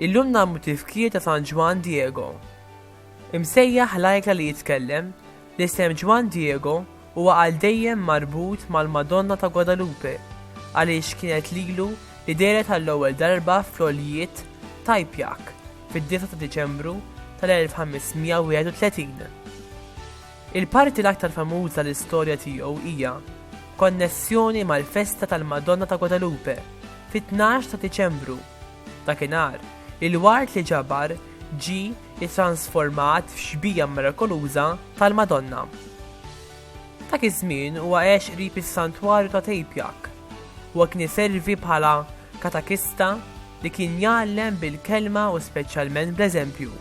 Illum nagħmlu tifkir ta' San Ġwan Diego. Imsejjaħ lajka li jitkellem, l-isem Ġwan Diego Huwa għal dejjem marbut mal-Madonna ta' Guadalupe għaliex kienet lilu li dehret għall-ewwel darba fl-għoljiet t'Ajipiaq fid-9 ta' Diċembru tal-1531. Il-parti l-aktar famuża l-istorja tiegħu hija b'konnessjoni mal-festa tal-Madonna ta' Guadalupe fit-tnax ta' Diċembru. Dakinhar, il-ward li ġabar ġie ittransformat f'xbieha mirakoluża tal-Madonna. Dak iż-żmien huwa għex qrib is-santwarju ta' Tejpjak. Huwa kien iservi bħala katakista li kien jgħallem bil-kelma u speċjalment bl-eżempju.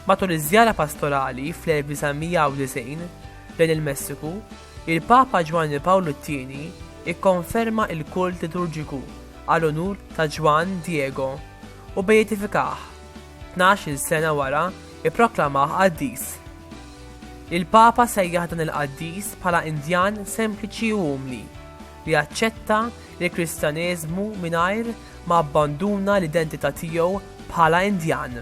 Matul iż-żjara pastorali fl-1990 lejn il-Messiku, il-Papa Ġwanni Pawlu t-Tieni ikkonferma l-kult liturġiku għal unur ta' Ġwann Diego u beatifikah Tnax-il sena wara, ipproklamah qaddis. Il-Papa sejjaħ dan il-qaddis bħala Indjan sempliċi u umli, li aċċetta l-Kristjaneżmu mingħajr ma abbanduna l-identità tiegħu bħala Indjan.